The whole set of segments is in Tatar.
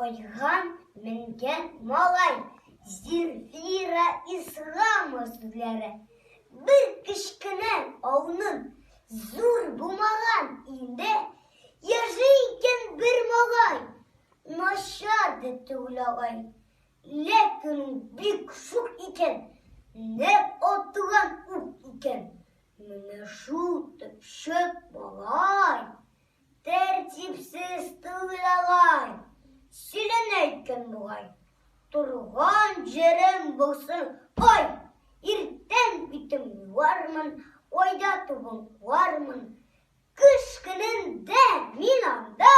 Айга менгән малай, Зинфира Исламова сүзләре. Бер кечкенә ауның зур булмаган инде яши икән бер малай. Начар да түгел агай. Ләкин бик шук икән, нәп атуган ук икән. Менә шул төпчек малай. Тәртипсез түгел алай, силен әйткән бугай. Торган җирем булсын, ай! Иртән битем юармын, айда тубым куармын. Көз көнендә мин анда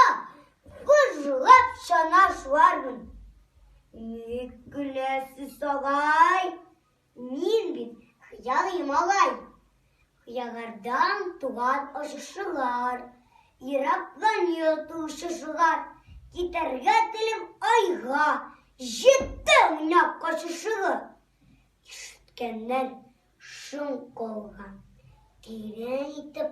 бозлап чана шуармын. Ник көләсез, агай? Мин бит хыялый малай. Хыяллардан туган очышулар, Ерактан йоту шушылар. Китәргә телим айга, Җитте уйнап качышуы. Ишеткәннәр шуң калган, Тирән итеп